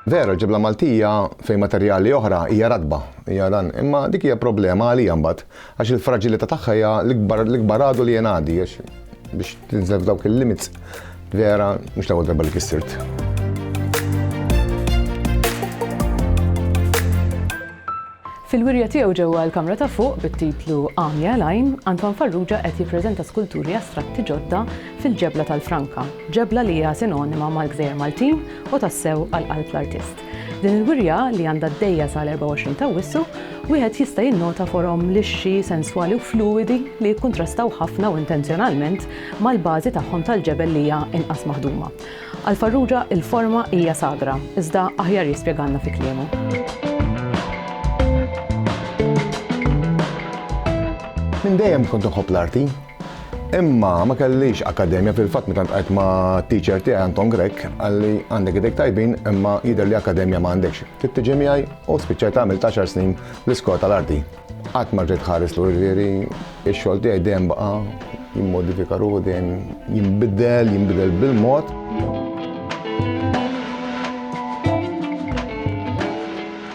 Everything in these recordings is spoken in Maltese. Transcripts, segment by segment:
Vera, ġibla Maltija fejn materjali oħra hija radba, hija dan, imma dik hija problema għalija mbagħad għax il-fraġilità tagħha hija l-ikbar għadu li jenadi biex tinżel dawk il-limits vera mhux l-ewwel darba li kissirt. Fil-wirja tiegħu ġewwa l-kamra ta' fuq bit-titlu Għamja l-Għajn, Antoine Farrugia qed jippreżenta skulturi astratti ġodda fil-Ġebla tal-Franka, ġebla li hija sinonima mal-gżejjer Maltin u tassew għal qalb l-artist. F'din il-wirja, li għandha għaddejja sal-24 t'Awwissu, wieħed jista' jinnota forom lixxi, senswali u fluwidi li jikkuntrastaw ħafna u intenzjonalment mal-bażi tagħhom tal-ġebel li hija inqas maħduma. Għal Farrugia il-forma hija sagra, iżda aħjar jispjegalna fi kliemu. Minn dejjem kont nħobb l-arti. Imma ma kellix akademja fil-fatt meta ntqajt ma' teacher tiegħi Anton Grek għalli għandek idejk tajbin imma jidher li akademja ma għandekx. Trid tiġi miegħi u spiċċajt għamil 10 snin l-iskola tal-arti. Qatt ma rrid ħares lur ġieri, ix-xogħol tiegħi dejjem baqa' jimmodifika ruħu dejjem jinbidel, jinbidel bil-mod.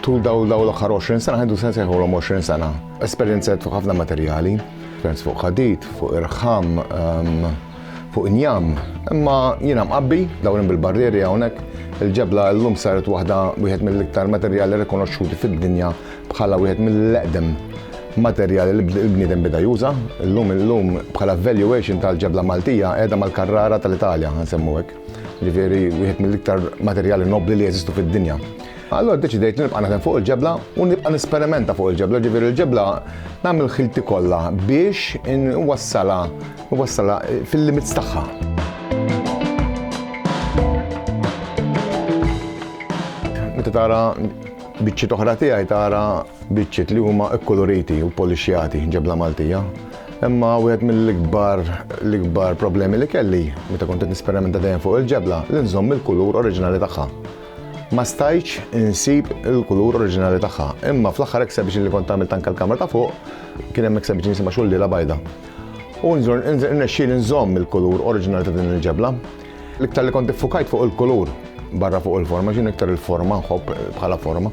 Tul daw daw l-aħħar 20 sena ħedu sens jħolhom 20 sena. Esperjenza fuq ħafna materjali, esperjenza fuq ħadid, fuq irħam, ehm, fuq injam, imma jiena mqabbi dawrin bil-barrieri hawnhekk, il-ġebla llum saret waħda wieħed mill-iktar materjali rikonoxxuti fid-dinja bħala wieħed mill-eqdem materjali li l-bniedem beda juża. Illum illum bħala valuation tal-ġebla Maltija qiegħda mal-Carrara tal-Italja, nsemmu hekk. Ġifieri wieħed mill-iktar materjali nobbli li jeżistu fid-dinja. Allora deċidejt li nibqa' naħdem fuq il-ġebla u nibqa' nisperimenta fuq il-ġebla, ġifieri l-ġebla nagħmel ħilti kollha biex inwassalha U wassalha fil-limits tagħha. Meta tara biċċiet oħra tiegħi tara biċċiet li huma kkuluriti u polixjati ġebla Maltija. Imma wieħed mill-ikbar l-ikbar problemi li kelli meta kont qed nisperimenta dejjem fuq il-ġebla li nżomm il-kulur oriġinali tagħha ma stajċ insib il-kulur oriġinali tagħha. Imma fl-aħħar exhibition li kont għamilt anke l-kamra ta' fuq, kien hemm exhibition jisimha xulliela bajda. U nżur nexxieli nżomm il-kulur oriġinali ta' din il-ġebla. L-iktar li kont iffukajt fuq il-kulur barra fuq il-forma, x'in iktar il-forma nħobb bħala forma.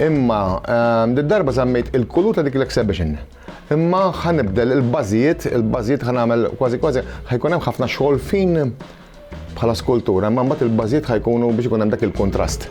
Imma ehm, d-darba żammejt il-kulur ta' dik l-exhibition. Imma ħanibdel il-bażijiet, il-bażijiet ħanagħmel kważi kważi ħajkun hemm ħafna xogħol fin bħala skultura, imma mbagħad il-bażijiet ħajkunu biex ikun hemm dak il-kuntrast.